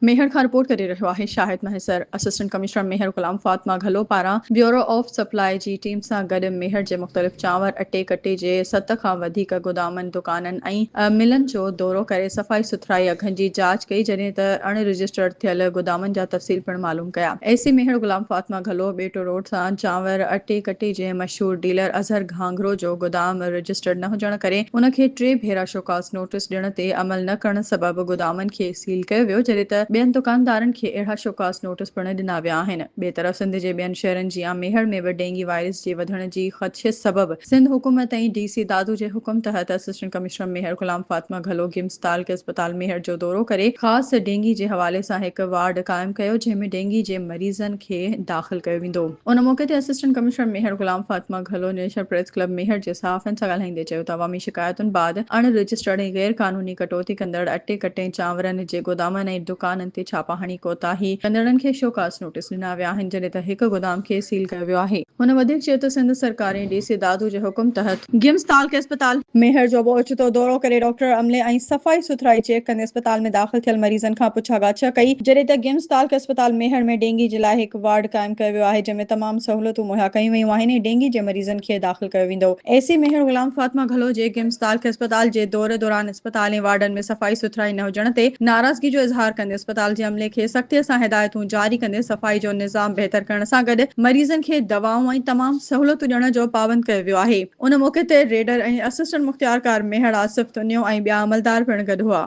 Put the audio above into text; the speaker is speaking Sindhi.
ميهڙ کان رپورٽ ڪري رهيو آهي شاهد مهيسر. اسسٽنٽ ڪمشنر ميهڙ غلام فاطمه گهلو پاران بيورو آف سپلاء جي ٽيم سان گڏ ميهڙ جي مختلف چانور، اٽي ڪٽي جي ست کان وڌيڪ گودامن، دڪانن ۽ ملن جو دورو ڪري صفائي سٿرائي اگهن جي جاچ ڪئي جڏهن ته اڻ رجسٽرڊ ٿيل گودامن جا تفصيل پڻ معلوم ڪيا. A C Mehar Ghulam Fatima Ghallu Beto road سان چانور، اٽي ڪٽي جي مشهور ڊيلر اظهر گهانگهرو جو گودام رجسٽرڊ نه هجڻ ڪري ان کي ٽي ڀيرا شوڪاز نوٽيس ڏيڻ تي عمل نه ڪرڻ سبب گودامن کي سيل ڪيو ويو جڏهن ته ٻين دڪاندارن کي اهڙا شوڪاز نوٽس پڻ ڏنا ويا آهن ٻئي طرف سنڌ جي ٻين شهرن جيان ميهڙ ۾ به ڊينگي وائرس جي وڌڻ جي خدشي سبب سنڌ حڪومت ۽ ڊي سي دادو جي حڪم تحت اسسٽنٽ ڪمشنر ميهڙ غلام فاطمه گهلو گمز تعلقي اسپتال ميهڙ جو دورو ڪري خاص ڊينگي جي حوالي سان هڪ وارڊ قائم ڪيو جنهن ۾ ڊينگي جي مريضن کي داخل ڪيو ويندو. ان موقعي تي assistant commissioner Mehar Ghulam Fatima Ghallo national press club Mehar جي صحافين سان ڳالهائيندي چيو ته عوامي شڪايتن بعد اڻ رجسٽرڊ ۽ غير قانوني ڪٽوتي ڪندڙ اٽي ڪٽين چانورن جي گودامن ۽ دڪانن تي ڇاپا هڻي ڪوتاهي ڪندڙن کي شوڪاز نوٽيس ڏنا ويا آهن جڏهن ته هڪ گودام کي سيل ڪيو ويو آهي. هن وڌيڪ چيو ته سنڌ سرڪار ۽ ڊي سي دادو جي حڪم تحت. گيمس تعلقي اسپتال ميهڙ جو به اوچتو دورو ڪري ڊاڪٽر عملي ۽ صفائي سٿرائي چيڪ ڪندي اسپتال ۾ داخل ٿيل مريضن کان پڇا ڳاڇ ڪئي جڏهن ته گيمس تعلقي اسپتال ميهڙ ۾ ڊينگي جي لاء هڪ وارڊ قائم ڪيو ويو آهي جنهن ۾ تمام سهولتون مهيا ڪيون ويون آهن ۽ ڊينگي جي مريضن کي داخل ڪيو ويندو. اي سي ميهڙ غلام فاطمه گهلو جي گيمز تالڪ اسپتال جي دوري دوران اسپتال ۽ وارڊن ۾ صفائي سٿرائي نه هجڻ تي ناراضگي جو اظهار ڪندي اسپتال جي عملي کي سختي سان هدايتون جاري ڪندي صفائي جو نظام بهتر ڪرڻ سان گڏ مريضن کي دوائون ۽ تمام سهولتون ڏيڻ جو پابند ڪيو ويو آهي. ان موقعي تي ريڊر ۽ اسسٽنٽ مختيارڪار ميهڙ آصف تنيو ۽ ٻيا عملدار پڻ گڏ هئا.